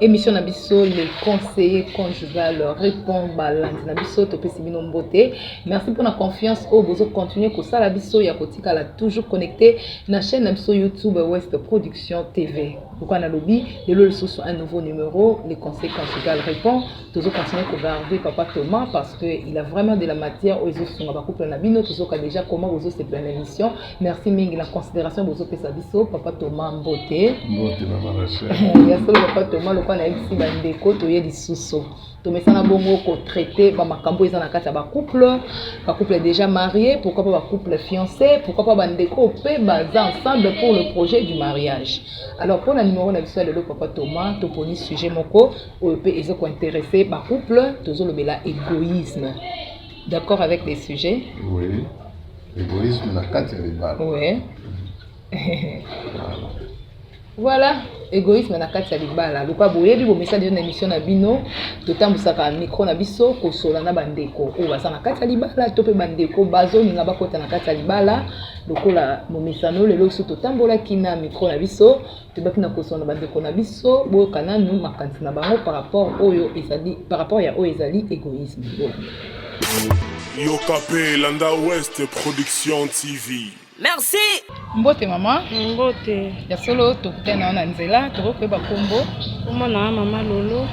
Emission na biso le conseiller conjugal répond balandi na biso topesi bino mbote. Merci pour la confiance oyo bozo continuer kosala biso ya kotikala toujours connecté na chaîne na biso YouTube West Production TV. Pourquoi na lobi lelo lisusu un nouveau numéro le conseiller conjugal répond tozo continuer ko garder papa Thomas parce que il a vraiment de la matière oyo ezo sunga ba couple na bino tozoka déjà comment bozo sepela na émission merci mingi na considération bozopesa biso papa toma mbote mbote na marashe ya solo papa toma lokola nayebisi bandeko toye lisusu tomesana bongo kotraite bamakambo eza na kati ya bacouple bacouple déjà marie pourquoi pas bacouple fiancé pourquoi pas bandeko mpe baza ensemble pour le projet du mariage alors mpo na numero na biso ya lelo papa toma toponi sujet moko oyo mpe eza kointeresse bacouple tozolobela égoïsme d'accord avec les sujets oui. egoisme na kati ya libala ouais. voilà egoisme na kati ya libala lokola boyebi bomesani na émission na bino totambwisaka micro na biso kosola na bandeko oyo baza na kati ya libala to mpe bandeko bazolinga bakota na kati ya libala lokola momesano lelo biso totambolaki na micro na biso tobaki na kosana na bandeko na biso boyoka nanu makanisi na bango par rapport oyo ezali par rapport ya oyo ezali egoïsme yoka mpe landa west production tv merci mbote mama mbote ya solo tokutana na nzela tokoki koyeba nkombo nkombo na mama lolo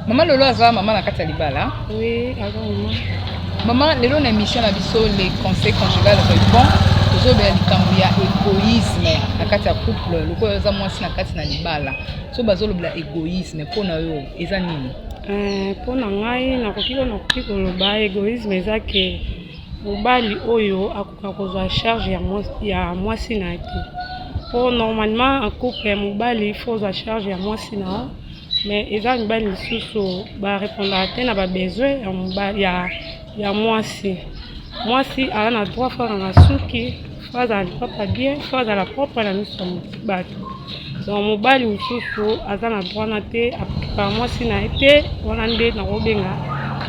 Mama Lolo aza mama na kati ya libala. Oui, aza mama. Mama lelo na émission na biso les conseils conjugal répond tozobela likambo ya égoïsme na kati ya couple lokola oza mwasi na kati na libala so bazolobela égoïsme mpo na yo eza nini eh, mpo na ngai nakoki ko nakoki koloba égoïsme eza ke mobali oyo akoka kozwa charge ya mwasi na ye te mpo normalement en couple mobali fo ozwa charge ya mwasi na yo mais eza mibali misusu ba repondaka te na ba besoin ya mobali ya, ya mwasi mwasi aza na droit fo akanga suki fo azala lipapa bien fo azala propre na miso ya bato donc mobali mosusu aza na droit na te apikaka mwasi na ye te wana nde nakobenga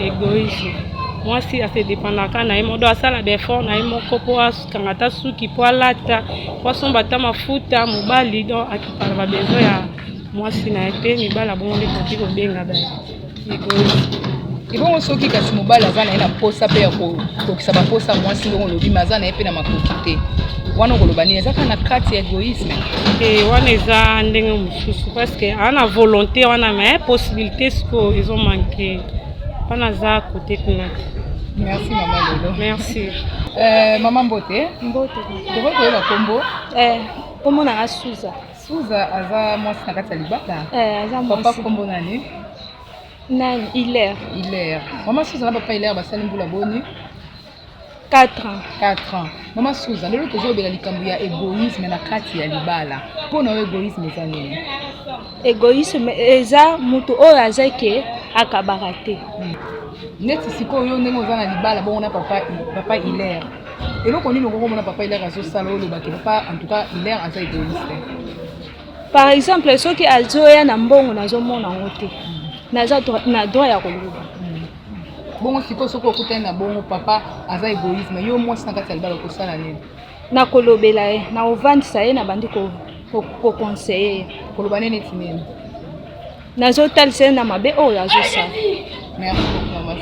egoïsme mwasi ase dépendaka na ye modo asala baeffort na ye moko mpo akanga ata suki mpo alata mpo asomba ata mafuta mobali donc akipaka babesoin ya mwasi na ye te mibala bongo nde tokoki kobenga ba ebongo soki kasi mobali aza na ye na mposa mpe ya kokokisa bamposa ya mwasi ndenge olobi ma aza na ye mpe na makoki te wana okoloba nini eza kaka na kati ya egoïsme te wana eza ndenge mosusu parceke aza na volonté wana ma possibilité sikoyo ezo manke wana aza kote kuna te merci mama lelo merci euh, mama mbote mbote tokoki koyeba nkombo eh, nkombo nanga suza Souza aza mwasi na kati ya libala. Eh, aza mwasi. Papa kombo nani? Nani? Hilaire. Hilaire. Maman Souza na papa Hilaire basali mbula boni? 4 ans. 4 ans. Maman Souza, lelo tozobela likambo ya egoïsme na kati ya libala. Mpo na yo egoïsme eza nini? Egoïsme eza moto oyo aza ke akabaka te. Hmm. Neti sikoyo ndenge oza na libala bongo na papa papa Hilaire. eloko nini okoki komona papa hilaire azosala olobaki papa en tout cas hilaire aza egoïste par exemple soki azoya na mbongo nazomona yango te naza na droit ya koloba bongo sikoyo soki okutani na bongo papa aza egoïsme yo mwasi na kati ya libala okosala nini nakolobela ye nakovandisa ye nabandi kokonseye ye koloba nini neti nini Nazo talisa ye na mabe oyo azo sala. Merci beaucoup mama.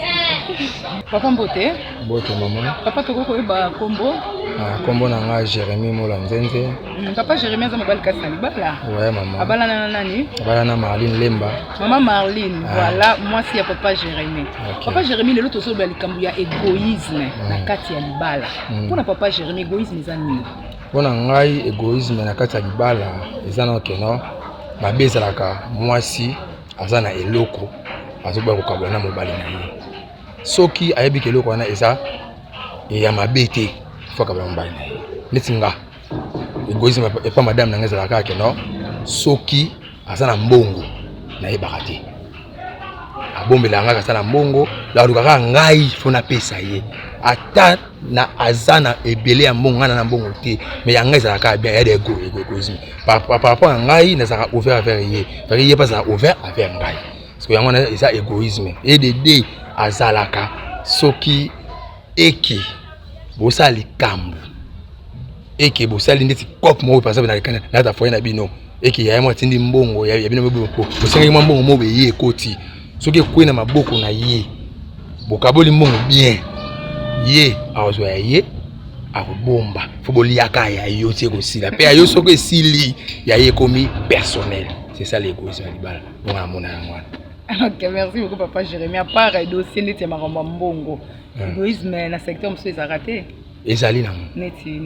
Papa mbote. Mbote mama. Papa toko koyeba kombo. Ah, kombo na nga Jérémy Mola Nzenze. Mm, papa Jérémy aza mobali kasi na libala. Ouais mama. Abala na nani? Abala na Marlene Lemba. Mama Marlene, ah. voilà mwasi ya papa Jérémy. Okay. Papa Jérémy lelo tozoloba likambo ya égoïsme mm. na kati ya libala. Mm. Mpo na papa Jérémy égoïsme eza nini? Mpo na ngai egoisme na kati ya libala eza na keno mabe ezalaka mwasi aza na eloko azoboya kokabwana na mobali na ye soki ayebi ka eloko wana eza ya mabe te fo akabwana mobali na ye neti nga egoisme epa madame na ngai ezalaka keno soki aza na mbongo nayebaka te abombela ngai aza na mbongo alukaka ngai mpo napesa ye ata na aza na ebele ya mbongo ngai na mbongo te mais ya ngai ezalaka bien ya dego egoegoisme par rapport ya ngai nazalaka ouvert avec ye parce ye mpe azalaka ouvert avec ngai parce que yango wana eza égoïsme edede azalaka soki eke bosala likambo et que bosali ndeti coop moko par exemple na na ta foyer na bino et que yaya mwa tindi mbongo ya bino bo bosengaki mwa mbongo moko eye ekoti soki ekwe na maboko na ye bokaboli mbongo bien ye akozwa ya ye akobomba fo boliaka ya yo ti ekosila mpe ya yo soki esili ya ye ekomi personnel c'est ça l'égoïsme ya libala bongo namona yango wana ok merci beaucoup papa jérémi apart dossier ndeti ya makambo ya mbongo égoïsme na secteur mosusu ezalaka te ezali na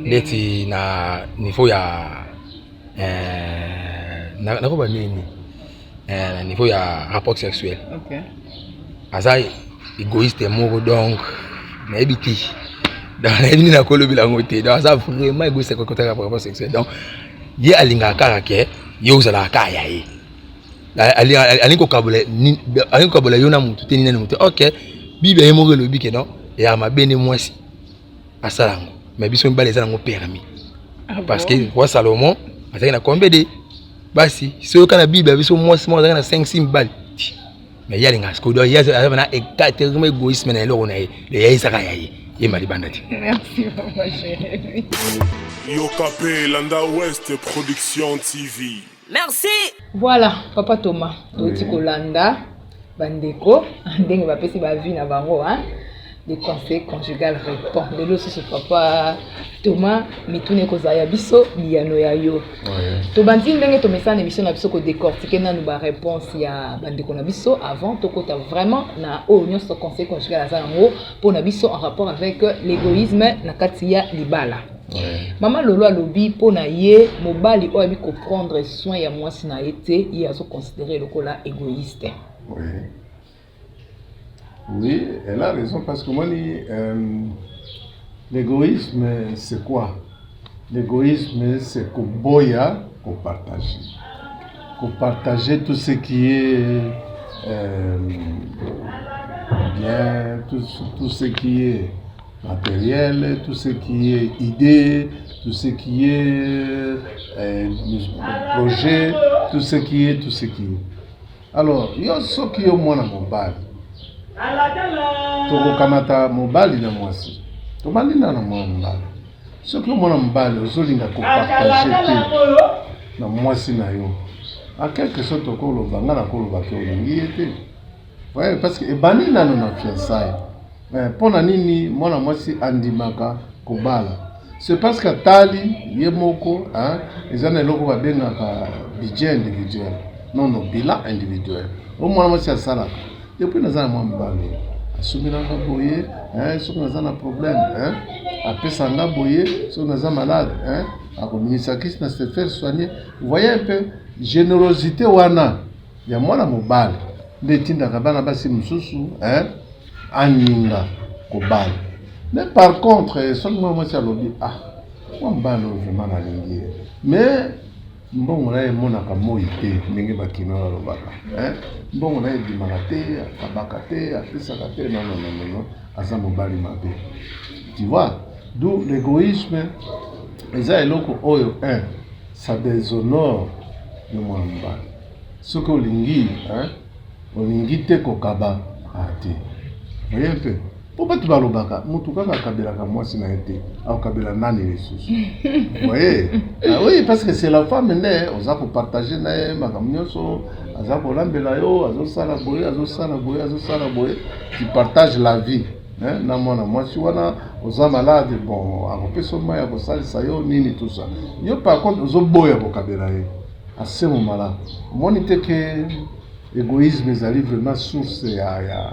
neti na niveau ya eh, nakoba nini eh, na niveau ya rapport sexuel aza égoïste moko donc nayebi te donc nayebi nini nakolobela yango te donc aza vraiment égoïste kokotaka rapport sexuel donc ye alingaka kaka ke yo ozalaka kaka ya ye alingi kokabola yo na motu te nini na motu ok biblia ye moko elobi ke non eyaka mabe nde mwasi asala yango mais biso mibale eza nango permis ah parce que roi salomon azalaki na combien de basi soki oyoka na bible ya biso mwasi moko azalaki na 5 si mibale mais ye alingaka sikoyo ye aza na égatement égoïsme na eloko na ye le ya ezaka ya ye yemba libanda te yoka mpe landa west production tv Merci. Voilà, papa Thomas, toti kolanda bandeko ndenge bapesi ba vie na bango hein. Le conseil conjugal répond. Lelo susu papa Thomas mituna ekozala ya biso biyano ya yo. Tobandi ndenge tomesana émission na biso ko décortiquer nanu ba réponse ya bandeko na biso avant tokota vraiment na oyo nyonso conseil conjugal aza yango mpo na biso en rapport avec l'égoïsme na kati ya libala. mama lolo alobi mpo na ye mobali oyo abi koprendre soin ya mwasi na ye te ye azoconsidere lokola égoïste oui. oui elle a raison parce que omoni euh, l'égoïsme c'est quoi l'égoïsme c'est koboya kopartage kopartage tout ce qui est euh, bien tout, tout ce qui est materiel, tout ce qui est idée, tout ce qui est euh, projet, tout ce qui est, tout ce qui est. Alors, yo soki yo mwana mobali tokokamata mobali na mwasi tobalinda na mwana mobali soki yo mwana mobali ozolinga kopartage te na mwasi na yo a quelque sorte okoloba ngai nakoloba ke olingi ye te Ouais, parce que ebandi nano na fiançailles. Mais mpo na nini mwana mwasi andimaka kobala? C'est parce que atali ye moko hein, eza na eloko babengaka budget individuel. Non non, bilan individuel. Oyo mwana mwasi asalaka depuis naza na mwa mibale asuminanga boye hein, soki naza na problème hein, apesa nga boye soki naza malade hein, akominisakisi na se faire soigner. Vous voyez un peu générosité wana ya mwana mobali nde etindaka bana basi mosusu eh, aninga kobala me par contre eh, soki mwana mwasi alobi ah mwa mobali oyo vraimen nalingi ye me mbongo na ye emonaka moi te ndenge bakino balobaka eh, mbongo na ye ebimaka te akabaka te apesaka te nonononono aza mobali mabe tu vois d'où l'égoïsme eza eloko oyo un ça déshonore le mwana mobali soki olingi hein olingi te kokaba ah te oye mpe mpo bato balobaka motu kaka akabelaka mwasi na ye te akokabela nani lisusu oye ah oui parce que c'est la femme nde oza kopartage na ye makambo nyonso aza kolambela yo azosala boye azosala boye azosala boye tu partage la vie na mwana mwasi wana oza malade bon akopesa mai ya kosalisa yo nini tusa yo par contre ozoboya kokabela ye Asemo malamu omoni te ke egoisme ezali vraiment source ya ya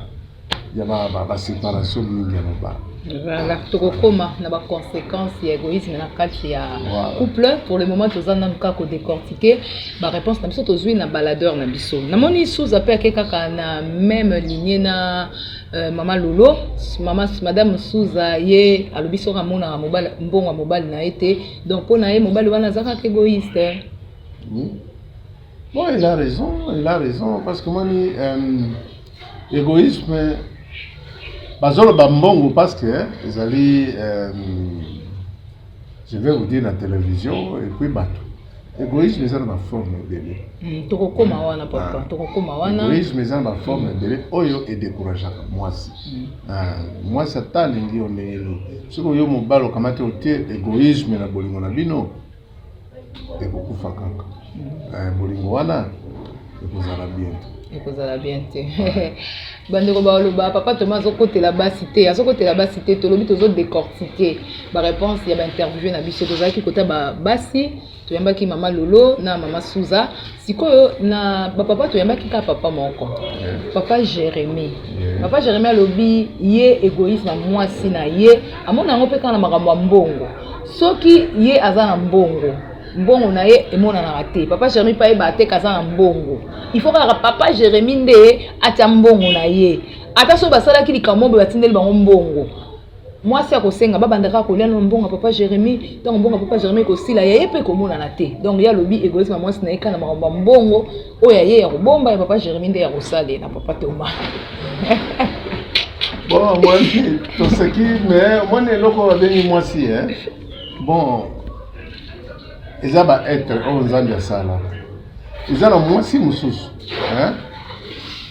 ya ba ba, ba separation mingi ya mobali Voilà, tokokoma na ba conséquences ya egoïsme na kati ya Voilà. couple pour le moment toza nanu kaka kodecortike ba réponse na biso tozwi na baladeur na biso namoni suza mpe ake kaka na même ligne na euh, mama lolo mama madame suza ye alobi soki amonaka mobali mbongo ya mobali na ye te Donc mpo na ye mobali wana aza kaka egoïste. Hein? Oui. Bon, il a raison, il a raison parce que moni euh, égoïsme bazoloba mbongo parce que hein, ezali euh, je vais vous dire la télévision et puis bato egoïsme eza na baforme ebele hmm, tokokoma wana papa ah. tokokoma wana egoïsme eza na baforme ebele oyo edécourageaka mwasi hmm. ah, mwasi ata alingi yo ndenge nini soki oyo mobali okamati otie egoïsme na bolingo na bino ekokufa kaka hmm. eh, bolingo wana ekozala bien ekozala bien te bandeko baloba papa toma azokotela basi te azokotela basi te tolobi tozodecortike baréponse ya bainterview na biso tozalaki kota basi toyambaki mama lolo na mama suza sikoyo na bapapa toyambaki kaka papa moko papa jérémi papa jérémi alobi ye egoïsme ya mwasi na ye amona yango mpe kaka na makambo ya mbongo soki ye aza na mbongo mbongo na ye emonanaka te papa jeremi mpe ayeba te kaza na mbongo il faut kaka papa jeremi nde atya mbongo na ye ata soki basalaki likambo boye batindeli bango mbongo mwasi akosenga babandaka kolia no mbongo ya papa jeremi ntango mbongo ya papa jeremi ekosila ya ye mpe ekomonana te donc ye alobi egoyisi ma mwasi na ye kana makambo ya mbongo oyo ya ye ya kobomba ya papa jeremi nde ya kosalela papa toma bon omoni toseki mais omoni eloko babengi mwasi e bon eza ba etre oyo oh, nzambe asala eza na mwasi mosusu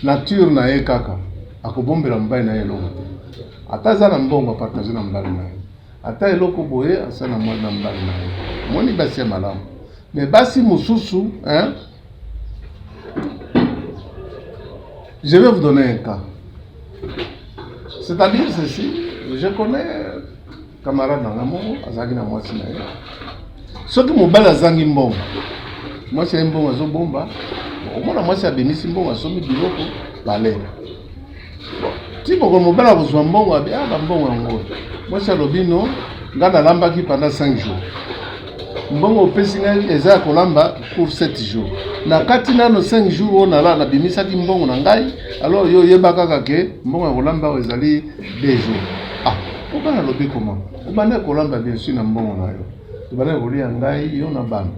nature na ye kaka akobombela mobali na ye eloko te ata aza na mbongo apartage na mobali na ye ata eloko boye asa na mwana na mobali na ye omoni basi ya malamu me basi mosusu je vais vous donner un cas c'est-à-dire ceci je connais Camarade na nga moko azalaki na mwasi na ye, soki mobali azangi mbongo, mwasi aye mbongo azobomba, omona mwasi abimisi mbongo asombi biloko balela ti moko mobali akozwa mbongo abe ah bambongo yango mwasi alobi no ngai nalambaki pendant 5 jours mbongo opesi ngai eza ya kolamba pour 7 jours na kati nano 5 jours oyo nala nabimisaki mbongo na ngai alors yo oyeba kaka ke mbongo ya kolamba oyo ezali 2 jours ah Oba na lobi koma. Obanda kolamba bien sûr na mbongo na yo. Obanda kolia ngai yo na bana.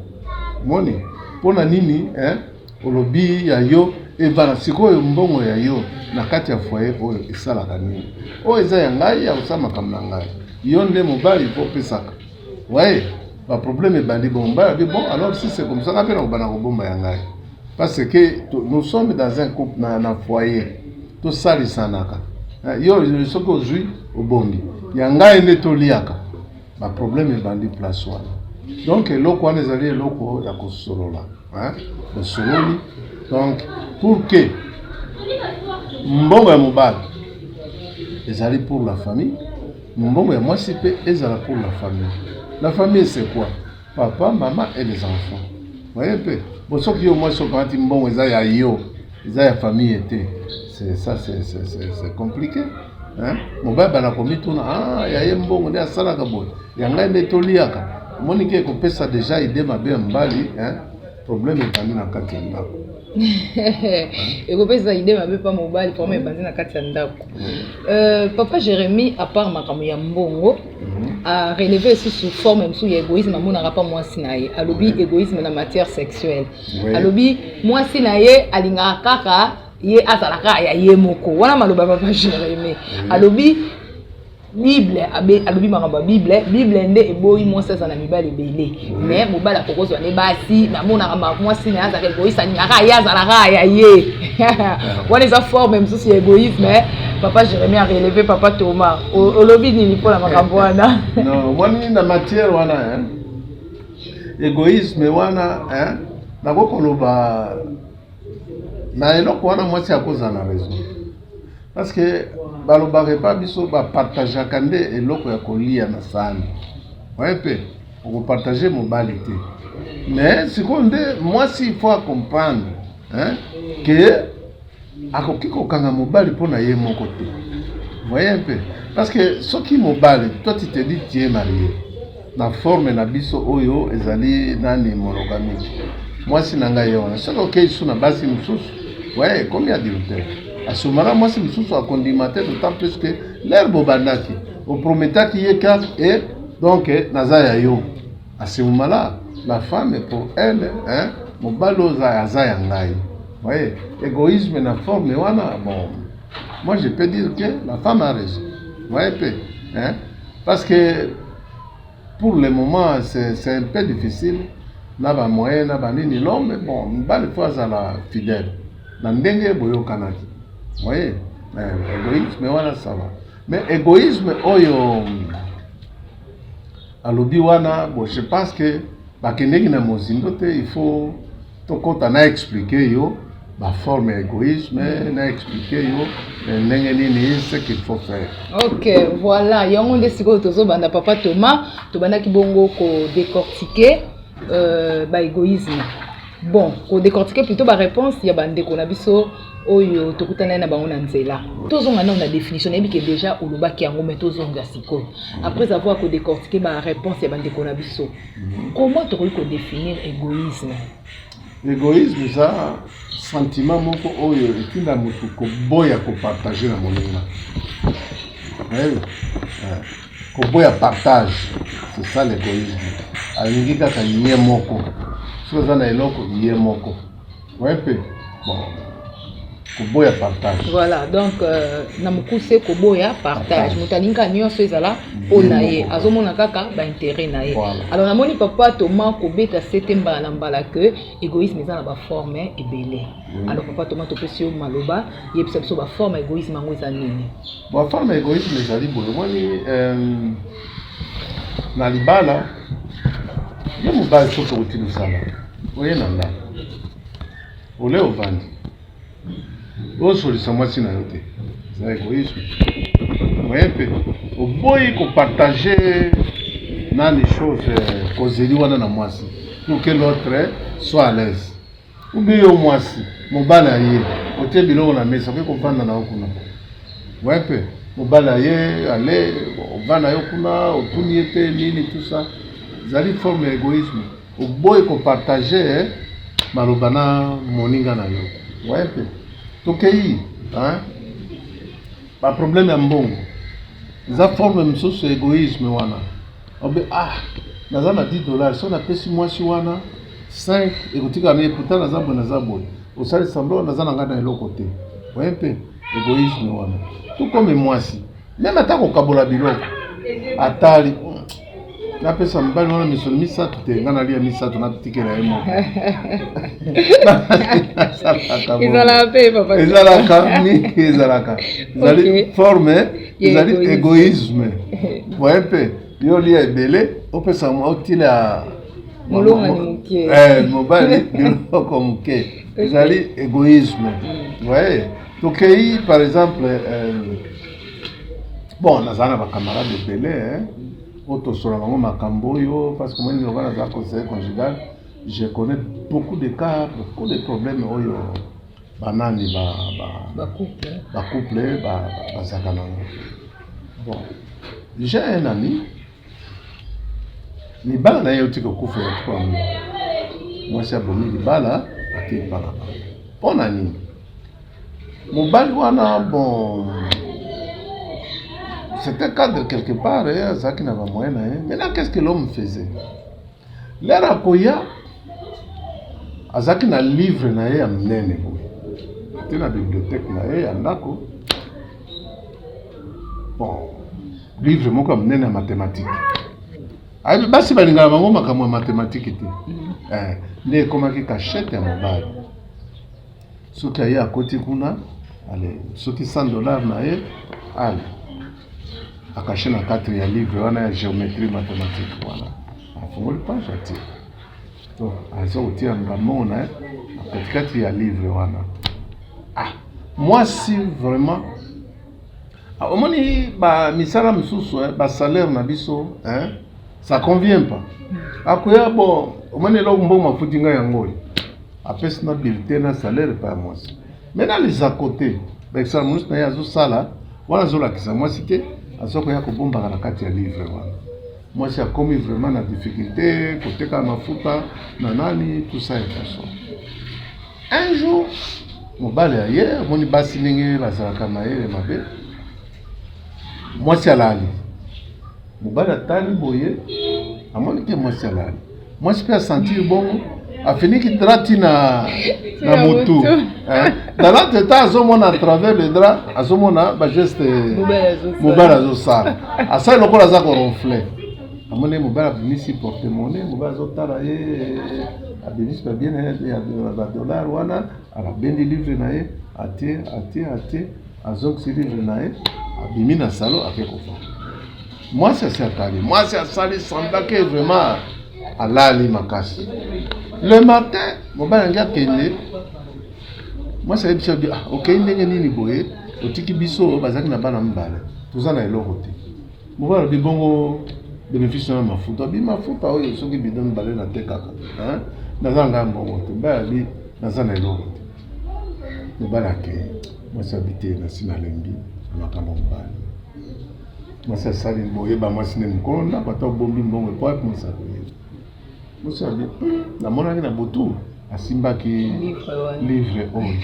Moni? Pona nini eh olobi ya yo ebana sikoyo mbongo ya yo na kati ya foyer oyo esalaka nini? Oyo eza ya ngai ya kosala makambo na ngai. Yo nde mobali po pesaka. Ouais, ba problème ebandi bon ba que bon alors si c'est comme ça nga pe na kobana kobomba ya ngai parce que nous sommes dans un couple na, na foyer tosalisanaka eh, yo soki ozwi obombi ya ngai nde toliaka baproblème ebandi place wana donc eloko wana ezali eloko ya kosolola osololi donc pour que mbongo ya mobali ezali pour la famille Mbongo ya mwasi pe ezala pour la famille. La famille c'est quoi? Papa, maman et les enfants. Voyez pe. Bon soki yo mwasi okamati mbongo eza ya yo, eza ya famille te. C'est ça c'est c'est compliqué. Hein? Mobali bana komituna, ah ya ye mbongo nde asalaka boye. Ya ngai nde toliaka. Omoni ke kopesa deja idee mabe ya mobali, hein? problème ebandi na kati ya ndako ekopesa ide mabe mpa mobali problème ebandi na kati ya ndako euh, papa jérémie apart makambo ya mbongo mhm. areleve lisusu forme mosusu ya égoïsme amonaka mpa mwasi na ye alobi égoïsme na matière sexuelle alobi mwasi na ye alingaka kaka ye azalaka ya ye moko wana maloba papa jérémie alobi bible alobi makambo ya bible bible nde eboyi mwasi aza na mibali ebele me mobali akokozwa nde basi namonaka mwasi na ye azalaka egoyiste alingaka ye azalaka ya ye wana eza forme mosusu ya egoïsme papa jérémi areleve papa thomas olobi nini mpo na makambo wana omoni na matière wana egoïsme wana nakoki koloba na eloko wana mwasi akozala na raison Parce que balobaka epa biso bapartageaka nde eloko ya kolia na saani oye mpe okopartage mobali te mais sikoyo nde mwasi ifo acomprendre ke akoki kokanga mobali mpo na ye moko te voye mpe parce que soki mobali toi tu te dis tu es marie na forme na biso oyo ezali nani monogamiki mwasi na ngai wana soki okei su na basi mosusu waye ekomi adultère asumana mwasi mosusu akondima te d'autant plus que lere bobandaki oprometaki ye karte e donc naza ya yo asiumala la femme pour elle hein, mobali oza aza ya ngai waye égoïsme na forme wana bon moi je peux dire que la femme a raison waye pe hein, parce que pour le moment c'est un peu difficile na ba moyen na ba nini non mais bon mibali faut azala fidèle na ndenge boyokanaki voyez euh, égoïsme wana ça va mais égoïsme oyo alobi wana bon je pense que bakendeki na mozindo te il faut tokota na explique yo ba forme ya egoïsme na explique yo eh, ndenge nini ce qu'il faut faire ok voilà yango nde sikoyo tozobanda papa thomas tobandaki bongo kodecortike euh, baégoïsme bon kodecortike plutôt baréponse ya bandeko na biso oyo tokutanai na bango na nzela tozonga nao na définition nayebi ke déjà olobaki yango mai tozonga sikoyo après avoir kodecortike baréponse ya bandeko na biso Comment tokoki ko definir egoïsme? Egoïsme eza sentiment moko oyo etinda moto koboya kopartage na moninga. Nayebi eh, koboya partage, c'est ça l'égoïsme. Alingi kaka ye moko, soki aza na eloko ye moko Ouais, pe. Bon. Koboya partage. Voilà, donc euh, na mukuse koboya partage. Moto alingi kaka nyonso ezala mpo na ye, azomona kaka ba intérêt na ye. Voilà. Alors namoni papa Thomas kobeta sete mbala na mbala que égoïsme eza na ba forme ebele. Oui. Alors papa Thomas topesi yo maloba, yebisa biso ba forme égoïsme yango eza nini? Ba forme égoïsme ezali boye, omoni euh, na libala ye mobali soki okoti mosala oye na ndako ole ovandi osolisa mwasi na yo te na egoïsme oye mpe oboyi kopartage nani chose euh, kozeli wana na mwasi pour que l'autre soit à l'aise obi yo mwasi mobali aye otie biloko na mesa okoki kovanda na yo kuna oye mpe mobali aye ale ovanda yo kuna otuni ye te nini tout ça ezali forme ya egoïsme Oboyi ko partager eh, maloba na moninga na yo. Waye pe. Tokeyi hein. Ba problème ya mbongo. Eza forme mosusu ya egoïsme wana. Obe ah, naza na 10 dollars, so napesi mwasi wana 5 ekotika na ye pourtant naza boye naza boye. Osali semblant naza na ngai na eloko te. Waye pe egoïsme wana. Tout comme mwasi Meme ata kokabola biloko atali napesa mobali wana misolo misato te ngai nalia misato natikela ye moko ezalaka mingi ezalaka ezali forme ezali egoisme voye mpe yo olia ebele opesa otila eh, mobali biloko moke ezali egoisme voye tokei par exemple euh, bon nazala na bacamarade ebele eh, oyo tosola bango makambo oyo parce que moi lokola naza conseiller conjugal je connais beaucoup de cas beaucoup de problèmes oyo banani bacouple bazalaka nango bon j'ai un ami libala na ye euti kokufela tuango mwasi abomi libala akei mpaka mpo na nini mobali wana bon c'était cadre quelque part azalaki na bamoyen na ye maintenant qu'est ce que l'homme faisait Lere akoya azalaki na livre na ye ya minene boye te na bibliothèque na ye ya ndako bon livre moko ya minene ya mathématique ayebi basi balingaka bango makambo ya mathématique te eh, nde ekomaki cachette ya mobali Soki aye akoti kuna ale soki 100 dollars na ye ale akashi na kati ya livre wana ya geometrie mathématique wana afungoli page atie to aza kotia ngambo na ye na katikati ya livre wana ah mwasi vraiment ah, omoni ba misala misusu eh, ba salaire na biso eh, ça convient pas akoya bon omoni eloko mbongo mafuti ngai yango oyo apesi na bulletin na salaire epai ya mwasi me na lizako te bakisala monisi na ye azosala wana azolakisa mwasi te aza koya kobombaka na kati ya livre wana mwasi akomi vraiment na difficulté koteka mafuta na nani tusa ya faso un jour mobali aye amoni basi ndenge bazalaka mayele mabe mwasi alali mobali atali boye amoni te mwasi alali mwasi mpe asentir bongo afiniki dra ti na na motu dalate ta azomona à travers le dra azomona bageste mobali azosala asali lokola aza koronfle amoni mobali abimisi porte mone mobali azotala ye abimisi babie na ye ya badollar wana abendi livre na ye atie atie atie azongisi livre na ye abimi na salo ake kofanda mwasi asi atali mwasi asali semblake vraiment alali makasi le matin mobali yange akende mwasi ayebi biso ah, okei ndenge nini boye otiki biso bazalaki na bana mibale toza na eloko te mobali alobi bongo benefice na mafuta bi mafuta oyo soki bido mibale natekaka naza ngai mbongo te mobali alobi naza na eloko te mobali akei mwasi abi te nasi nalembi na makambo mobali mwasi asali boye bamwasi nde mokolo na bato abombi mbongo epoapi mwasi akoye mwasi abi hmm, namonaki na butu asimbaki livre oyo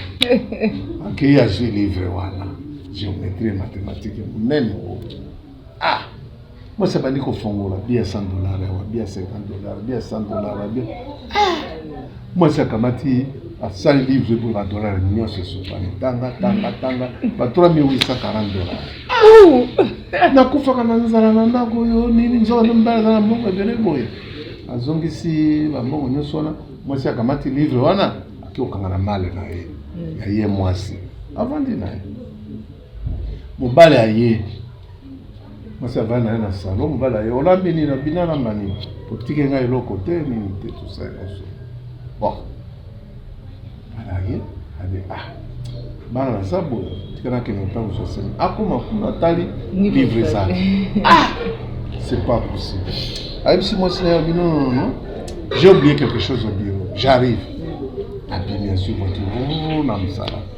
akei azwi livre wana géométrie et mathématique ya monene oyo ah mwasi abandi kofongola bia 100 dollar awa bia 50 dollar bia 100 dollar bia ah! mwasi akamati asali livre epo ba dollar nyonso esopani tanga tanga tanga ba 3840 dollar nakufaka na nzala na ndako oyo nini nzoka nde mobali aza na mbongo ebele boye azongisi bambongo nyonso wana mwasi akamati livre wana akokanga na male na ye ya ye mwasi avandi na ye mobali aye mwasi avai na ye na salon mobali aye olambi nini na bina na mani otike ngai eloko te nini te tosai nyonso bon bana aye abe ah bana naza boye tika nakende ntango sosemi akoma kuna atali livre eza ah c'est pas possible ayebisi mwasi na ye abi non non non j'ai oublié quelque chose au bureau j'arrive abimi azwi voiture na mosala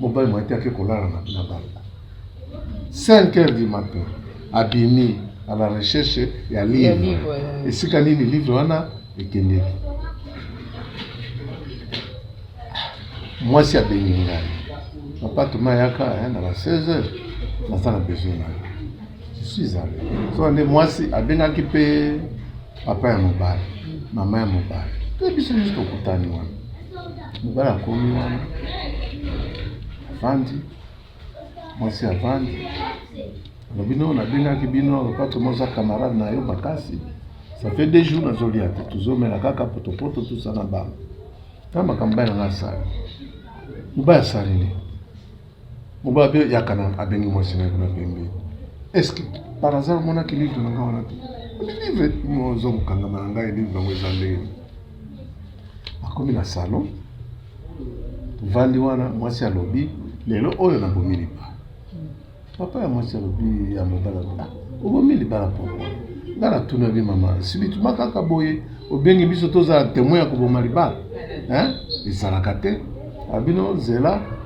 mobali mwa te ake kolala na na banda 5 heures du matin abimi à la recherche ya livre esika nini livre wana ekendeki mwasi abengi ngai papa toma yaka na ba 16 heures naza na besoin na yo je suis allé so nde mwasi abengaki mpe papa ya mobali mama ya mobali te biso nyonso tokutani wana mobali akomi wana avandi mwasi avandi alobi no nabengaki bino lopato moza camarade na yo makasi ça fait deux jours nazolia te tozomela kaka potopoto tosa na bango na makambo bai nanga asali mobali asali nini Mobali pe yaka na abengi mwasi na ye kuna pembeni. Est-ce que par hasard omonaki livre na ngai wana te? Livre oza kokangama na ngai livre yango eza ndenge nini? Akomi na salon tovandi wana, mwasi alobi lelo oyo nabomi libala. Papa ya mwasi alobi ya mobali alobi ah, obomi libala pourquoi? Ngai natunaki mama sibituma kaka boye obengi biso tozala temoin ya koboma libala hein? ezalaka te abino zela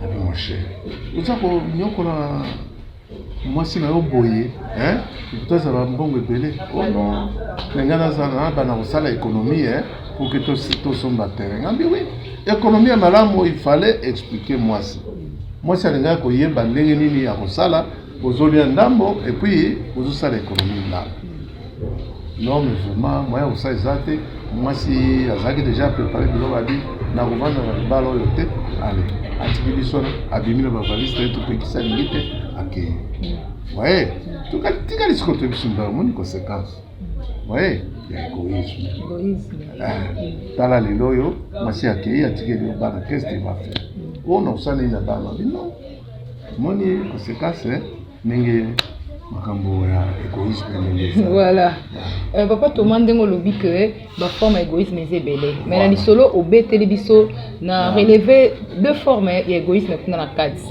Nabi mon cher, oza konyokola mwasi na yo boye eh? tozala mbongo ebele oh non na ngai nazala na bana kosala ekonomie eh? pour que tosomba terrain ngambi wi ekonomie ya malamu il fallait expliquer mwasi mwasi alingaki koyeba ndenge nini ya kosala bozolia ndambo epuis bozosala ekonomie malamu Non mais vraiment moyen kosala eza te mwasi azalaki deja prépare biloko abi nakovanda na libala oyo te ale atiki biso abimi na bavalise te topekisa lingi te akei waye tikali sikoyo toyebi biso mbala omoni conséquence waye ya egoïsme tala lelo oyo mwasi akei atikeli yo bana keste bafe oyo na osaleli na bana bino Moni conséquence ndenge makambo ya égoïsme voilà euh, papa thomas ndenge olobi ke baforme ya égoïsme eza ebele mais na lisolo obeteli biso na releve deux formes ya égoïsme kuna na kati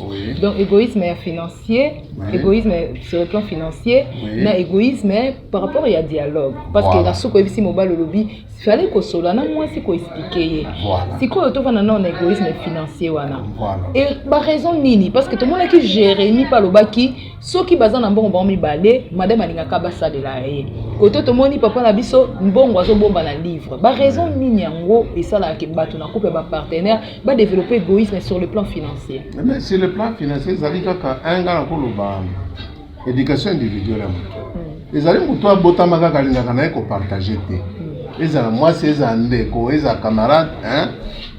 donc égoïsme ya financier égoïsme sur le plan financier na égoïsme par rapport ya dialogue parce que na suka oyebisi mobali olobi fallait kosolola na mwasi ko expliquer ye voilà. sikoyo tovanda nao na égoïsme financier wana voilà. e baraison nini parce que tomonaki jérémi mpe alobaki soki baza na mbongo bango mibale madame alingaka basalela ye koto tomoni papa na biso mbongo azobomba na livre baraison nini yango esalaka ke bato na couple ya bapartenaire badeveloppe égoïsme sur le plan financier mais sur le plan financier ezali kaka un nga nakoloba Education individuelle ya moto hmm. ezali moto abotama kaka alingaka na ye kopartage te hmm. ezala mwasi ezala ndeko ezala camarade hein?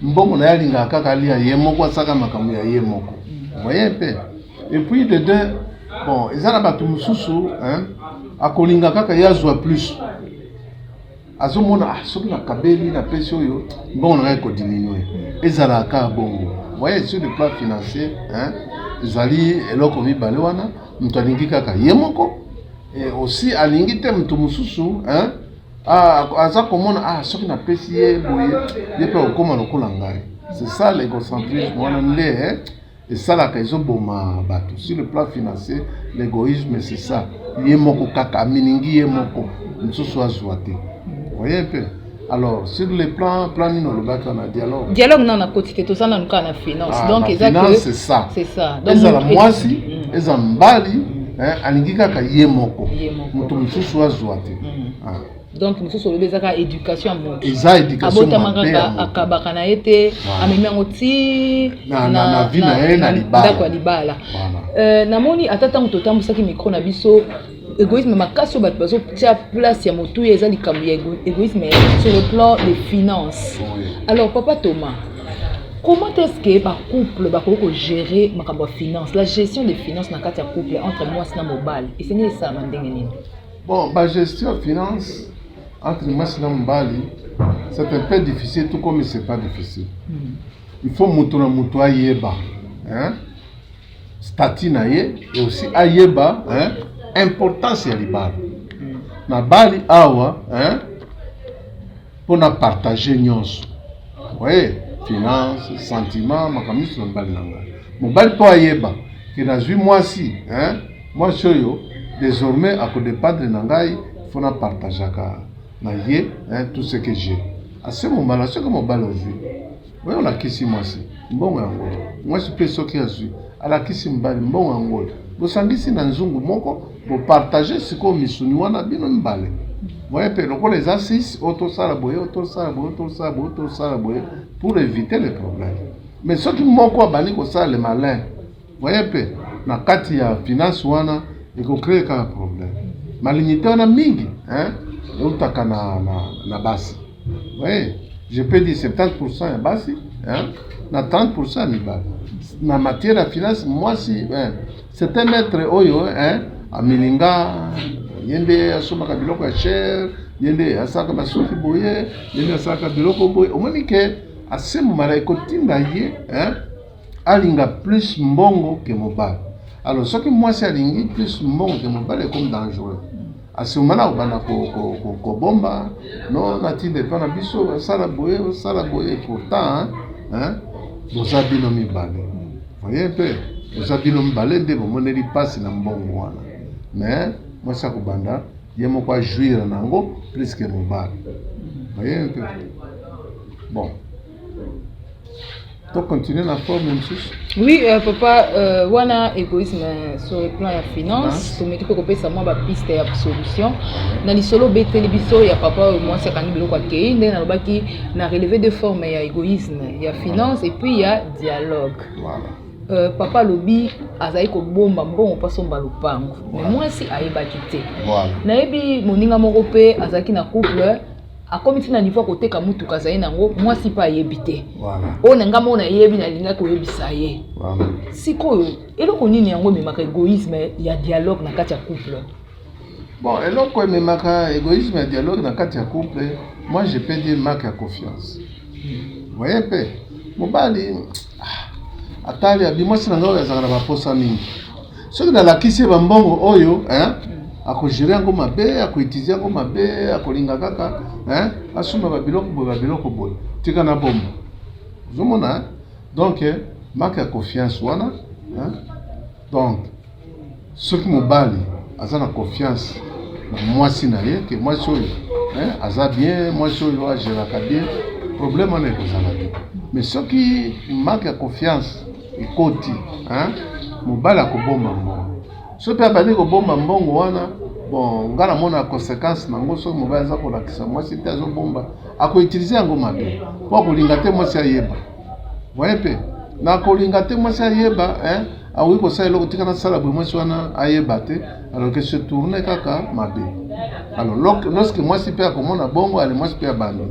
mbongo na ye alingaka kaka alia ye moko asaka makambo ya ye moko hmm. voye mpe epuis de deux bon eza na bato mosusu akolinga kaka ye azwa plus azomona ah, soki nakabeli na pesi oyo mbongo na ngai ekodiminue ezalaka kaka bongo voye sur le plan financier ezali eloko mibale wana moto alingi kaka ye moko e, osi alingi te moto mosusu aza komona ah, soki napesi ye boye ye mpe akokoma lokola ngai c'est ça l'egocentrisme wana nde esalaka ezo boma batu sur le plan financier l'egoisme c'est ça ye moko kaka aminingi ye moko mosusu azwa te voyez un peu alors sur le plan plan nini olobaki wana dialogue dialogue nano nakoti te toza nanu kaka na finance ah, donc eza c'est ça c'est ça ezala mwasi mm. eza mbali alingi kaka ye moko moto mosusu azwa te mm. ah. donc mosusu olobi eza kaka éducation ya moto eza éducationabotama kaka akabaka na ye te amemi yango ti na vi na ye na ndako ya libala euh, namoni ata ntango totambwisaki micro na biso égoïsme makasi oyo bato bazotya place ya motuya eza likambo ya égoïsme sur le plan des finances alors papa thomas comment est-ce que bacouple bakoki kogérer makambo ya finance la gestion des finances na kati ya couple entre mwasi na mobali esengeli esalama ndenge nini Bon, ba gestion ya finance entre mwasi na mobali c'est un peu difficile tout comme c'est pas difficile il faut moto na moto ayeba hein? statut na ye et aussi ayeba hein? importance ya libala na bali awa hein? mpo na partage nyonso oye finance sentiment makambo nyonso na mobali na ngai mobali mpo ayeba ke nazwi mwasi hein? mwasi oyo désormais akodependre na ngai mpo na partageaka na ye hein, tout ce que j'ai à ce moment là soki mobali ozwi Oyo olakisi mwasi mbongo ya ngoi, mwasi mpe soki azwi alakisi mobali mbongo ya ngoi, bosangisi na nzungu moko, bopartage sikoyo misuni wana bino mibale moye mpe lokola eza 6 oyo tosala boye oyo tosala boye oyo tosala boye oyo tosala boye pour éviter le problème mais soki moko abandi kosala le malin Voye mpe na kati ya finance wana eko cree kaka problème. Malignite wana mingi hein eutaka na, na, na basi voye je peux dire 70% ya basi hein, na 30% ya mibali na matière ya finance mwasi hein, c'est un être oyo hein, amilinga ye nde asombaka biloko ya cher ye nde asalaka basuki boye ye nde asalaka biloko boye omoni ke asemumala ekotinda ye hein, alinga plus mbongo que mobali alors soki mwasi alingi plus mbongo que mobali ekomi dangereux asomana kobanda kobomba no natinda epa na biso osala boye osala boye pourtant boza bino mibale oye mpe boza bino mibale nde bomoneli mpasi na mbongo wana mais mwasi akobanda ye moko ajuire na yango plus que mobali oye mpe bon To continuer na forme mosusu. Oui, euh, papa, euh, wana égoïsme euh, sur le plan ya finance, tomeki mpe kopesa mwa bapiste ya solution na lisolo obeteli biso ya papa oyo mwasi akangi biloko akei nde nalobaki na relever de forme ya égoïsme ya finance et puis ya dialogue voilà. Euh, papa alobi azali kobomba mbongo mpo asomba lopango me mwasi ayebaki te nayebi moninga moko mpe azalaki na couple akomi ti na niveau ya koteka motuka azali na yango mwasi mpe ayebi te oyo na ngai moko nayebi nalingaki koyebisa ye sikoyo eloko nini yango ememaka egoïsme ya dialogue na kati ya couple bon eloko ememaka egoïsme ya dialogue na kati ya couple moi je peux dire manque ya confiance voye mpe mobali atali abi mwasi na ngai oyo azalaka na baposa mingi soki nalakisi ye bambongo oyo eh, akojere yango mabe akoitize yango mabe akolinga kaka eh, asomba babiloko boye babiloko boye tika na bomba ozomona eh? donc eh, marke ya confiance wana eh? Donc soki mobali aza na confiance na mwasi na ye ke mwasi oyo aza bien, mwasi oyo ageraka bien, problème wana ekozala te. Mais soki manque ya confiance ekoti, mobali akobomba mbongo. Soki mpe abandi kobomba mbongo wana, bon ngai namona conséquence na yango. Soki mobali aza kolakisa mwasi te azobomba, akoutilize yango mabe mpo akolinga te mwasi ayeba. Voyez un peu. Na kolinga te mwasi ayeba hein, akoki kosala eloko tika nasala boye mwasi wana ayeba te alors que se tourne kaka mabe. Alors lorsque mwasi mpe akomona bongo ale mwasi mpe abandi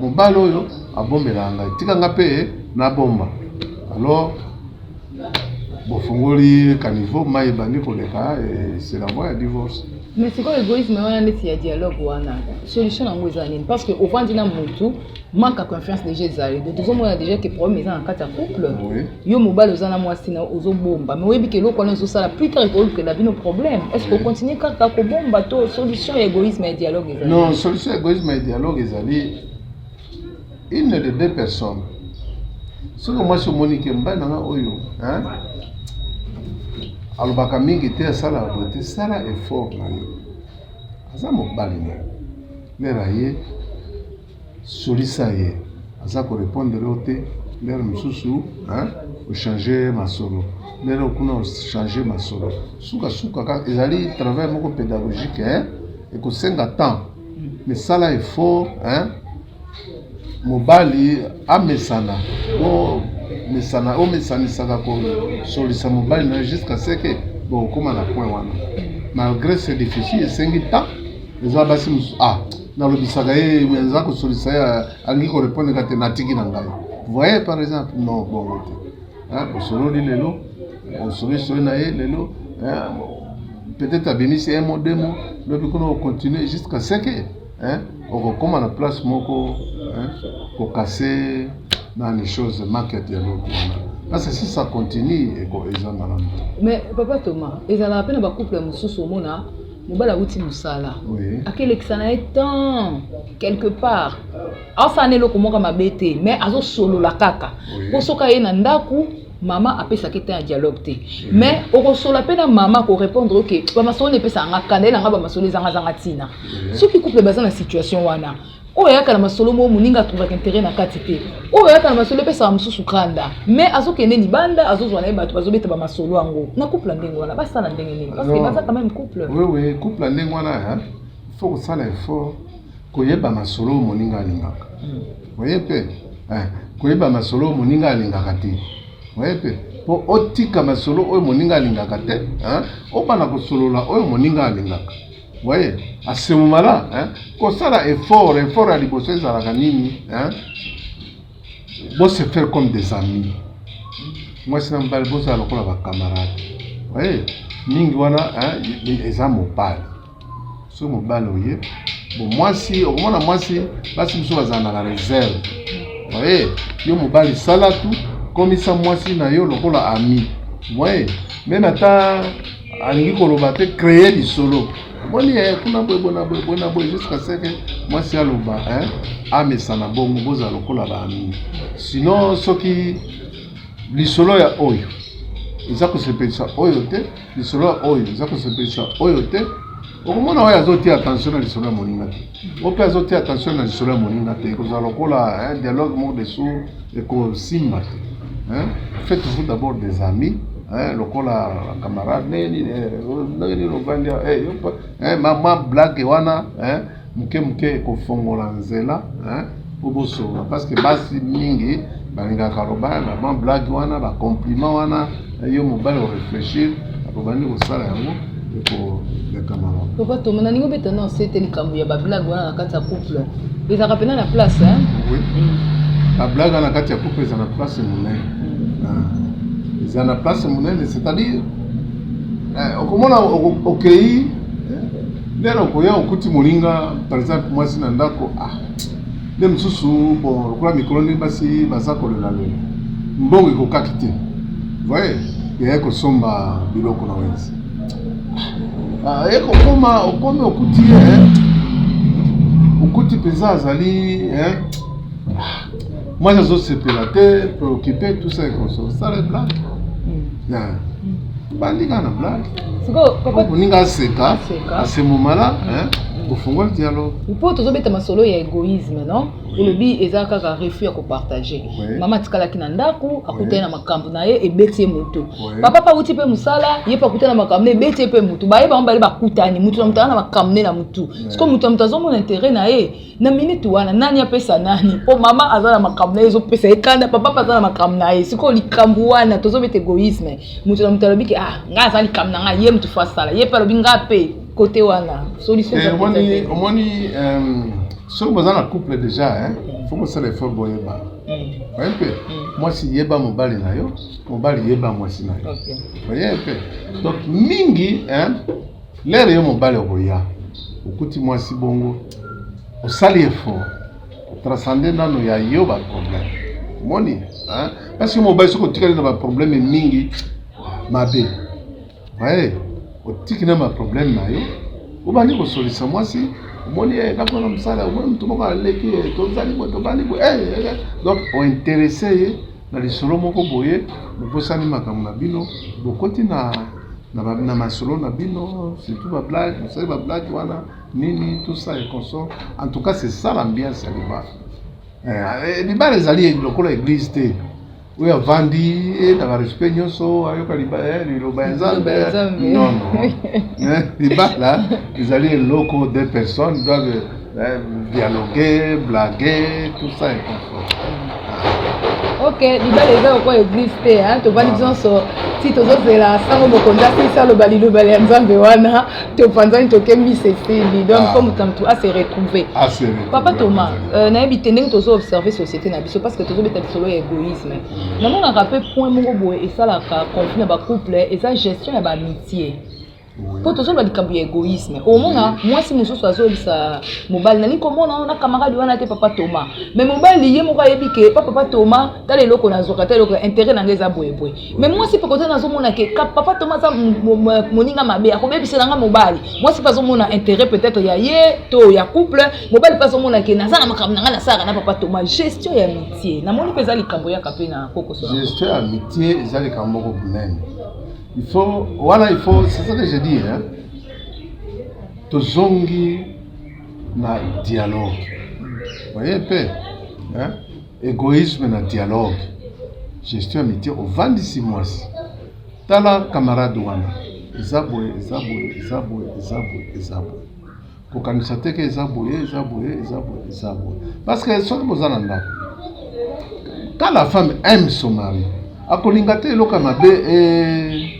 mobali oyo abombelaka ngai tika nga mpe nabomba alors bofungoli kanivo mai ebandi koleka c'est la voie ya divorce mais sikoyo egoïsme wana neti ya dialogue wana solution yango eza nini parce que ovandi na motu manque ya confiance déjà ezali donc tozomona déjà ke problème eza na kati ya couple yo mobali oza na mwasi na ozobomba mais oyebi ke eloko wana ezosala plus tard ekolukela bino problème est ce que ocontinue kaka kobomba to solution ya égoïsme ya dialogue ezali non solution ya égoïsme ya dialogue ezali une de deux personnes soki mwasi omoni ke mobali nanga oyo alobaka mingi te asalaka boye te sala effort na yo aza mobali na yo Lere aye solisa ye aza ko repondre yo te lere mosusu ochange masolo lere okuna ochange masolo sukasuka kaka ezali travail moko pédagogique hein? ekosenga temps misala effort hein? mobali amesana o mesana omesanisaka kosolisa mobali na jusqu'à ce que bokokoma na point wana malgré c'est difficile esengi temps eza basi mosusu ah nalobisaka ye eza kosolisa ye alingi korepondre ka te natiki na ngai voye par exemple non bongo te osololi lelo osolisoli na ye lelo peut-être abimisi un mot deux mots lobi kuna ocontinue jusqu'à ce que okokoma na place moko kokase nani chose market ya lobi wana parce que si ça continue eza malamu mais papa thomas ezalaka mpe na bacouple mosusu omona mobali awuti mosala akelekisa na ye temps quelque part asala na eloko moko mabe te mais azosolola kaka mpo soki aye na ndako mama apesaki te ya dialogue te mais okosola mpe na mama akorépondre oke bamasolo na epesaka nga kanda ye na nga bamasolo ezangazanga ntina soki couple baza na situation wana oyo ayaka na masolo moko moninga atrouvaka intere na kati te oyo ayaka na masolo epesaka mosusu kanda mais azokende libanda azozwa na ye bato bazobeta bamasolo yango na couple ya ndenge wana basala ndenge nini parce que baza quand même couple wewe couple ya ndenge wana faut kosala effort koyeba masolo oyo moninga alingaka hmm. oye mpe koyeba masolo oyo moninga alingaka te oye mpe mpo otika masolo oyo moninga alingaka te obana kosolola oyo moninga alingaka voye asemumala kosala effort effort ya liboso ezalaka nini hein? bo se faire comme des amis mwasi na mobali bozala lokola bacamarade oye mingi wana eza mobali soki mobali oye bo mwasi okomona mwasi basi biso bazala na reserve oye yo mobali sala tu komisa mwasi na yo lokola ami moye meme ata alingi koloba te kreye lisolo omoni ye eh, kuna boye bona boye bona boye jusqu'à ce que mwasi aloba hein, amesana bongo bozala lokola baami sinon soki lisolo ya oyo eza kosepelisa oyo te lisolo ya oyo eza kosepelisa oyo te okomona oyo azotia attention na lisolo ya moninga te Ope azo tia attention na lisolo ya moninga te, ekozala lokola un dialogue mort de sourd ekosimba te. Hein? Faites-vous d'abord des amis hein, lokola camarade nini ndenge nini ovandi eh, eh, mama blague wana hein, moke moke ekofongola nzela hein. po bosolola parce que basi mingi balingaka loba ba blague wana ba compliment wana yo mobali oreflechir akobandi kosala yango ekoleka mawa papa toma nalingi obeta na nse te likambo ya bablague wana na kati ya couple ezalaka mpena na place oui bablague wana na kati ya couple eza na place monene mm. ah. eza na place monene c'est-à-dire eh, okomona okei eh, lelo okoya okuti moninga par exemple mwasi na ndako ah nde mosusu bon lokola mikolo nde basi baza kolela lela mbongo ekokaki te voye yaya kosomba biloko na wenzi ah, ye kokoma okomi okuti ye eh. okuti mpenza azali eh. mwasi azosepela te preocupe tout ça ekoso sala blague hmm. bandika na blague moninga aseka asemomala ofungoli hmm. dialogue mpo tozobeta masolo ya egoisme non olobi eza kaka refus ya kopartage mama atikalaki na ndako akutani na makambo na ye ebeti ye motu papa mpe awuti mpe mosala ye mpe akutani na makambo na ebeti ye mpe motu baye bango bale bakutani motu na motu aza na makambo ne na motu siko motu na motu azomona intere na ye na minute wana nani apesa nani mpo mama aza na makambo na ye ezopesa ye kanda papa mpe aza na makambo na ye sikoyo likambo wana tozobeta egoisme motu na motu alobi ke ah ngai aza likambo na ngai ye motu fo asala ye mpe alobi ngai mpe kote wana eh, omoni euh, soki boza na couple déjà fo kosala effort boyeba mm. oye mpe mm. mwasi yeba mobali na yo mobali yeba mwasi na yo oye mpe donc mingi lere yo mobali okoya okuti mwasi bongo osali effort transcende nano ya yo baproblème omoni parce que mobali soki otikali na baproblème mingi mabe Bae, otiki na ma problème na yo, obandi kosolisa mwasi, omoni ye eh, nakona na mosala, omoni moto moko aleki ye, eh, tozali boye, tobandi boye, eh, donc ointeresse ye na lisolo moko boye, bobosani makambo na bino, bokoti na na, ba, na masolo na bino, surtout ba blague, bosali ba blague wana nini, tout ça et consort. En tout cas, c'est ça l'ambiance ya libala. Eh, libala ezali lokola église te. oyo avandi eh, na barespect nyonso ayoka eh, liloba ya nzambe nono eh, libala ezali eloko de personne doive dialogue blague tout ça et confort ok libala eza lokola eglise te tovandi nyonso ti tozozela sango mokonzi asilisa aloba liloba ya nzambe wana topanzani tokembisi esili donc ah. fo moto na moto ase retrouve ah, papa thomas euh, nayebi te ndenge tozo observe société na biso parce que tozobeta lisolo ya égoïsme mm. namonaka mpe point moko boye esalaka conflit na bacouple eza gestion ya baamitie mpo tozoloba likambo ya egoïsme omona mwasi mosusu azolisa mobali nalingi komona na camarade wana te papa toma me mobali ye moko ayebi ke pa papa toma tala eloko nazwaka ta eloko intérêt na ngai eza boyeboye me mwasi mpe koza nazomona ke papa toma aza moninga mabe akobebisela nga mobali mwasi mpe azomona intérêt peut-être ya ye to ya couple mobali mpe azomona ke naza na makambo na ngai nasalaka na papa toma gestion ya mitie namoni mpe eza likambo yaka mpe na kokoso gestion ya mitie eza likambo moko monene il faut wana il faut c'est ça que je dis hein tozongi na dialogue voyez mpe hein Egoisme na dialogue, gestion ya mitie, ovandisi mwasi. Tala camarade wana, eza boye, eza boye, eza boye, eza boye, eza boye. Kokanisa te ke eza boye, eza boye, eza boye, eza boye. Parce que soki boza na ndako, quand la femme aime son mari, akolinga te eloko ya mabe eh,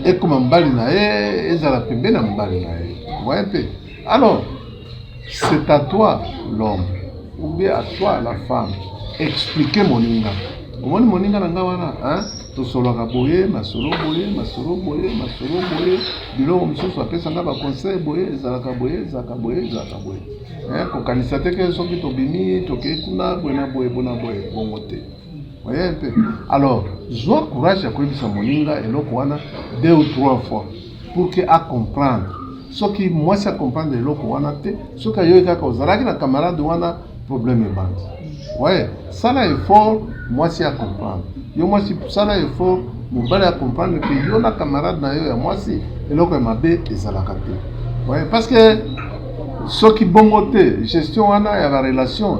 ekoma mobali na ye, ezala pembe na mobali na ye. Voye mpe Alors, c'est à toi l'homme ou bien à toi la femme expliquer moninga omoni moninga na nga wana hein? tosolaka boye masolo boye masolo boye masolo boye biloko mosusu apesa nga baconseil boye ezalaka boye ezalaka boye ezalaka boye hein? kokanisa te ke soki tobimi tokei kuna boye na boye bona boye bongo te Oye mpe alors zwa courage ya koyebisa moninga eloko wana deux ou trois fois pour que a comprendre. Soki mwasi a comprendre eloko wana te, soki ayoki kaka ozalaki na camarade wana, problème ebandi. Oye, sala effort mwasi a comprendre. Yo mwasi sala effort mobali a comprendre que yo na camarade na yo ya mwasi eloko ya mabe ezalaka te. Oye, parce que soki bongo te gestion wana ya ba relation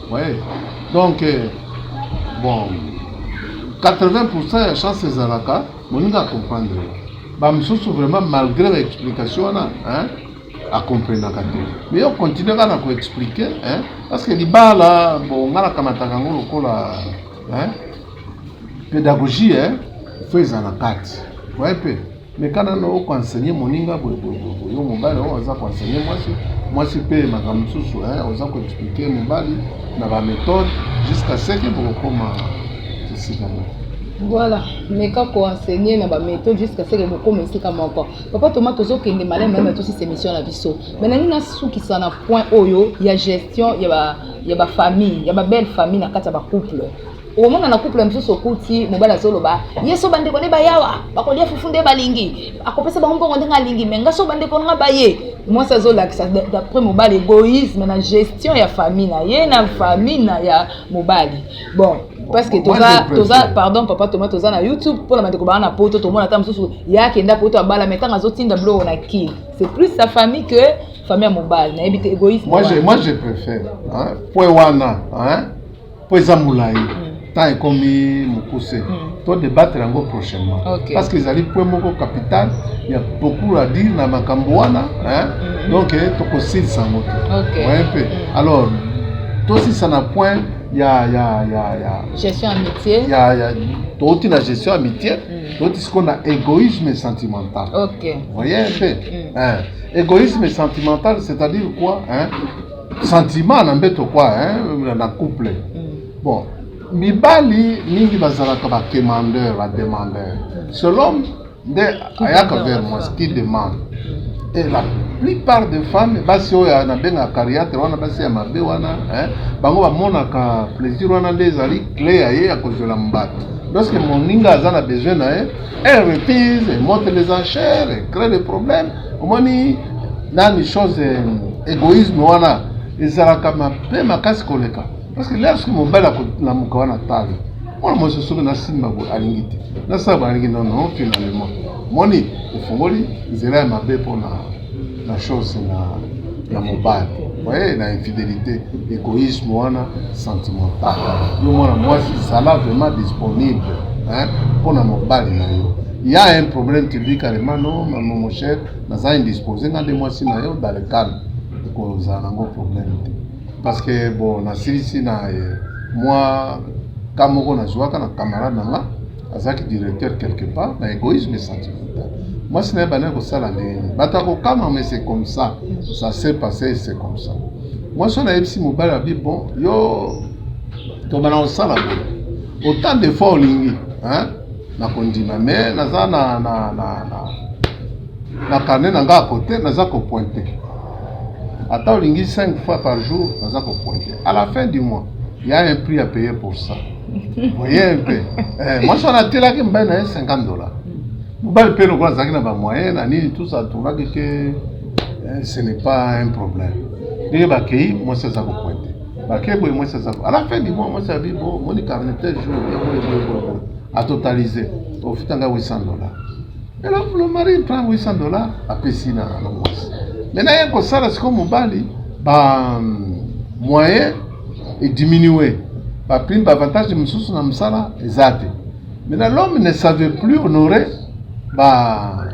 Ouais. Donc, euh, bon, 80% ya chance ezalaka moninga acomprendre bamosusu vraiment malgré baexplication wana hein, akomprenaka te mais yo continue kaka na koexplike hein, parce que libala bon nga nakamataka yango lokola hein, pédagogie hein, fo eza na kati oye mpe Meka nano oko enseigner moninga boye boye boye, yo mobali oyo aza ko enseigner mwasi, mwasi mpe makambo mosusu eh, oza ko expliquer mobali na ba methode jusqu'à ce que bokokoma esika moko. Voilà, meka ko enseigner na ba methode jusqu'à ce que bokoma esika moko. Papa Thomas tozokende malamu malamu na tosisi emission na biso. Mais nalingi nasukisa na point oyo ya gestion ya ba ya ba famille, ya ba belle famille na kati ya ba couple. okomona na couple mosusu okuti mobali azoloba ye so bandeko nde bayawa bakolia fufu nde balingi akopesa bango mbongo ndenge alingi me nga so bandeko nanga baye mwasi azolakisa d'après mobali egoïsme na gestion ya famille na ye na famille na ya mobali bon parce que toza toza pardon papa toma toza na youtube mpona bandeko baa na poto tomona ata mosusu ye akenda poto abala me ntango azotinda biloko na kin c'est plus sa famille que famille ya mobali nayebi te égoïsme moi je, moi je préfère hein? point wana hein? mpo eza molai hmm. temps ekomi mokuse hmm. to debattre yango prochainement okay. parce que ezali point moko capital ya beaucoup à dire na makambo wana hmm. donc eh, tokosilisa yango te okay. oye mpe alors tosilisa na point ya ya ya ya gestion amitié ya ya touti na gestion amitié mm. touti sikoyo na égoïsme sentimental ok voye mpe mm. eh, égoïsme sentimental c'est-à-dire quoi hein? Sentiment na mbeto kwa hein, na couple. Mm. Bon, mibali mingi bazalaka ba demandeur, ba demandeur. Selon nde ayaka vers moi qui demande. Et la plupart des femmes basi oyo oh, nabenga cariatre wana basi ya mabe wana hein, bango bamonaka plaisir wana nde ezali cle ya ye ya kozwela mobali lorsque moninga aza na besoin na ye Elle refuse, elle monte les enchères, elle crée des problèmes. Omoni nani chose égoïsme wana ezalaka mabe makasi koleka parce que lelo soki mobali akolamuka wana talo mwana mwasi soki nasimba boye alingi te nasala balingi nono finalement moni efungoli nzela ya mabe mpona na chose na na mobali oye na infidelité égoïsme wana sentimental yo mwana mwasi zala vraiment disponible mpo na mobali na yo ya un problème tu dis carrément non mama mon cher naza indispose nga nde mwasi na yo dans le calme ekozala nango problème te parce que bon nasilisi na eh, mwa ka moko nazwaka na camarade na nga azalaki directeur quelque part na egoïsme sentimental mwasi na ye bandaki kosala ndenge nini bato akokama mais c'est comme ça ça s'est passé c'est comme ça mwasi oyo nayebisi mobali abi bon yo tobana kosala boye autant de fois olingi nakondima mais naza na, na, na, na, na carnet na nga ya kote naza kopointe ata olingi 5 fois par jour naza kopointe à la fin du mois il y a un prix à payer pour ça moyen mpe eh, mwasi wana atelaki mobali na ye 50 dollars mobali mpe lokola azalaki na bamoyen na nini tout ça tournaki ke eh, ce n'est pas un problème ndenge bakei mwasi aza kopointe bakei boye mwasi aza à la fin du mois mwasi abi bo moni carnetel jour boyeboyeboyeboye atotalise ofuta ngai 800 dollars eloko le mari prend 800 dollars apesi na mwasi maintenant ye kosala sikoyo mobali ba moyen e diminuer ba primes ba avantages mosusu na mosala eza te maintenant l'homme ne savait plus honorer ba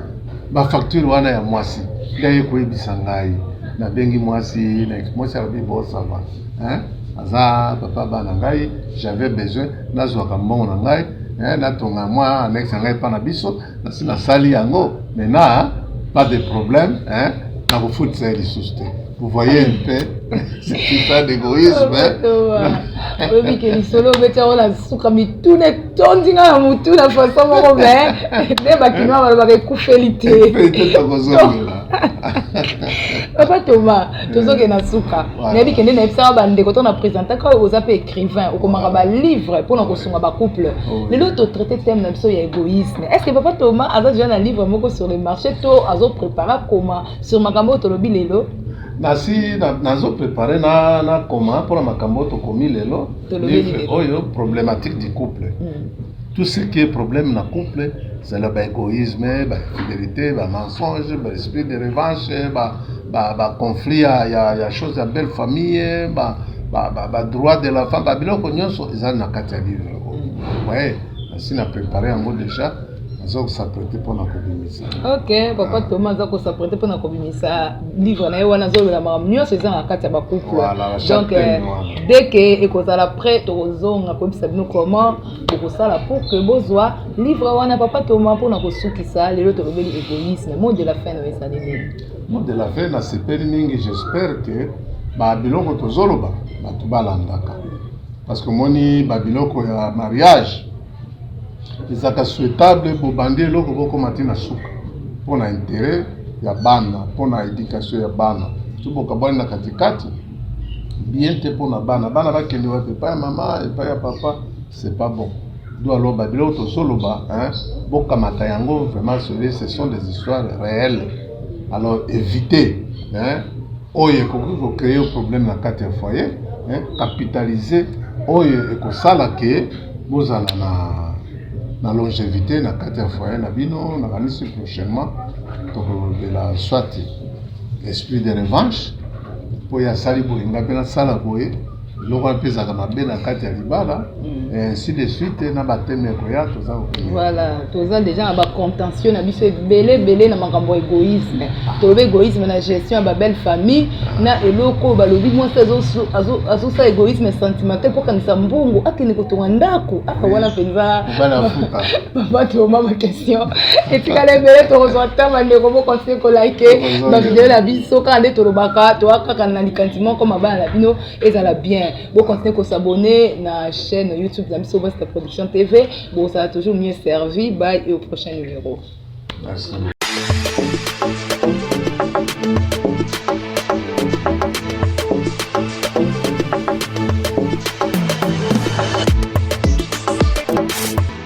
ba facture wana ya mwasi nde aye koyebisa ngai nabengi mwasi na mwasi alobi bosava hein? aza papa bana ngai j'avais besoin nazwaka mbongo na ngai eh, natonga mwa annexe ya ngai epa na biso nasi nasali yango maintenant pas de problème eh, nakofutisa ye lisusu te Vous voyez un peu, c'est ça l'égoïsme. oyebi ke lisolo obeti yango na suka mituna etondi nga na motu na façon moko me nde bakinoa balobaka ekufeli te papa thomas tozoke na suka nayebi kende nayebisaka bandeko to na présentaka oyo oza mpe écrivain okomaka balivre mpona kosunga bacouple oh, lelo totraite thème na biso ya égoïsme est ce que papa thomas aza deja na livre moko sur le marché to azoprépare akoma sur makambo oyo tolobi lelo nasi nazo prepare na na koma mpona makambo oyo tokomi lelo livre oyo problématique du couple mm. tout ce qui est problème na couple zala baégoïsme bafidélité bamensonge baesprit de revanche baconflit ba, ba ya, ya chose ya belle famille ba, ba, ba, ba droit de la femme babiloko nyonso ezali na kati ya livre oyo mm. waye nasi na prepare yango déjà aza kosaprete mpo na kobimisa ok papa toma aza kosaprete mpo na kobimisa livre na ye wana azolola makambo nyonso eza na kati ya bacouple donc euh, dès ke ekozala prêt tokozonga koyebisa bino comment bokosala pour ke bozwa livre wana papa toma mpo na kosukisa lelo tolobeli égoïsme mot de la fin nayo ezali nini mot de la fin nasepeli mingi j'espère ke babiloko tozoloba bato balandaka parce que omoni babiloko ya mariage ezalaka souhaitable bobandi eloko bokoma ti na suka mpo na interet ya bana mpo na education ya bana to bokabwani na katikati bien te mpo na bana bana bakende wapi epai ya mama epai ya papa c'est pas bon do aloba biloko tozoloba bokamata yango vraiment ce sont des histoires réelles alors évitez hein oyo ekoki ko créer problème na kati ya foyer eh, capitaliser oyo ekosala ke bozala na na longevité na kati ya foyer na bino nakanisi prochainement tokolobela soit esprit de revanche mpo ye asali boye ngai mpe nasala boye biloko wana mpe ezalaka mabe na kati ya libala mm. ainsi de suite na bateme ekoya toza voilà toza déjà na bacontentio na biso ebele ebele na makambo ya égoïsme ah. tolobi égoïsme na gestion ya babelle famille ah. na eloko oyo balobi mwasi azosala égoïsme sentimental mpo akanisa mbongo akende kotonga ndako aka ah, wana mpenza babatoma bakesi question etikala ebele tokozwa ntango bandeko bokontinue kolike bavideo na biso kaka nde tolobaka toa kaka na likanisi moko mabala na bino ezala bien bokontinue kosabone na chaîne youtube na biso basta production tv bozala toujours mieux servi by et au prochain numéro Merci.